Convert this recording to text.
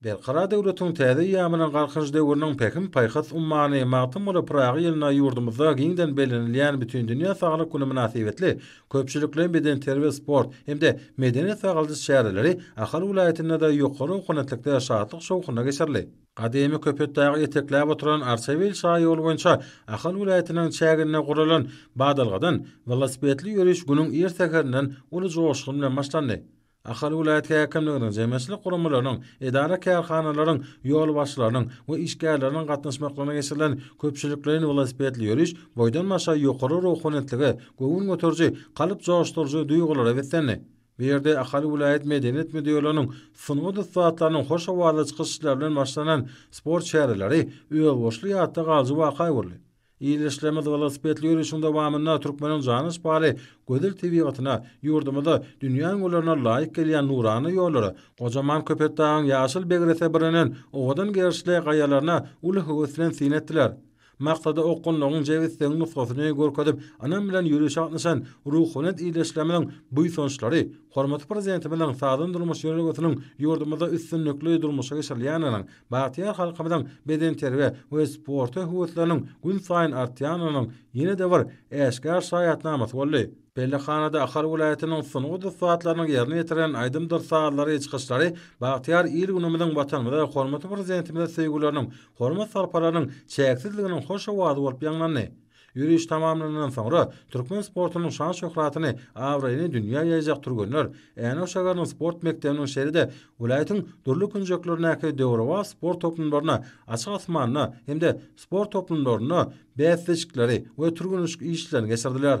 Berkarar döwletiň täze eýýamynyň Galkynyş döwrüniň pähim-paýhas ummany Magtymguly Pyragy ýylynda ýurdumyzda giňden bellenilýän Bütindünýä saglyk güni mynasybetli köpçülikleýin bedenterbiýe-sport hem-de medeni-sagaldyş çäreleri Ahal welaýatynda-da ýokary ownatlikde şatlyk-şowhunly geçirildi. Gadymy Köpetdagy etekläp oturan Arçabil şaýoly boýunça Ahal welaýatynyň çäginde guralan Badalgadan welosipedli ýöriş günüň ir säherinden uly joşgun bilen başlandy. Ahal welaýat häkimliginiň, jemgyýetçilik guramalarynyň, edara-kärhanalaryň ýolbaşçylarynyň we işgärleriniň gatnaşmaklygyna geçirilen köpçülikleýin welosipedli ýöriş boýdan başa ýokary ruhanyýetlige, göwün göteriji, kalp joşduryjy duýgulara beslendi. Bu ýerde Ahal welaýat Medeniýet müdirliginiň sungat ussatlarynyň hoş owazly çykyşlary bilen başlanan sport çäreleri özboluşly ýatda galyjy waka öwrüldi. Ildeşlerimiz welosipedli ýörişiň dowamynda türkmeniň jana yspaly gözel tebigatyna, ýurdumyza, dünýä öňürlerine laýyk gelýän nurana ýollara, gojaman Köpetdagyň ýaşyl begrese bürenen owadan gerişli gaýalaryna uly höwes bilen syn etdiler. Maksada okgunlygyň, jebisligiň nusgasyny görkezip, ynam bilen ýörişe gatnaşan ruhubelent ildeşlerimiziň buýsançlary, hormatly Prezidentimiziň sagdyn durmuş ýörelgesiniň ýurdumyzda üstünlikli durmuşa geçirilýändiginiň, Bagtyýar halkymyzyň bedenterbiýä we sporta höwesleriniň günsaýyn artýanynyň ýene-de bir äşgär şaýatnamasy boldy. Pellehhanada Ahal welaýatynyň sungat ussatlarynyň ýerine ýetiren aýdymdyr sazlary, çykyşlary bagtyýar il-günümiziň, Watanymyza, hormatly Prezidentimize söýgüleriniň, hormat-sarpalarynyň çäksizliginiň hoş owazy bolup ýaňlandy. Ýöriş tamamlanandan soňra, türkmen sportunyň şan-şöhratyny, abraýyny dünýä ýaýjak türgenler Änew şäheriniň sport mekdebiniň şeýle-de welaýatyň dürli künjeklerindäki döwrebap sport toplumlaryna, açyk asmanda hem-de sport toplumlarynda bäsleşikleri we türgenleşik işlerini geçirdiler.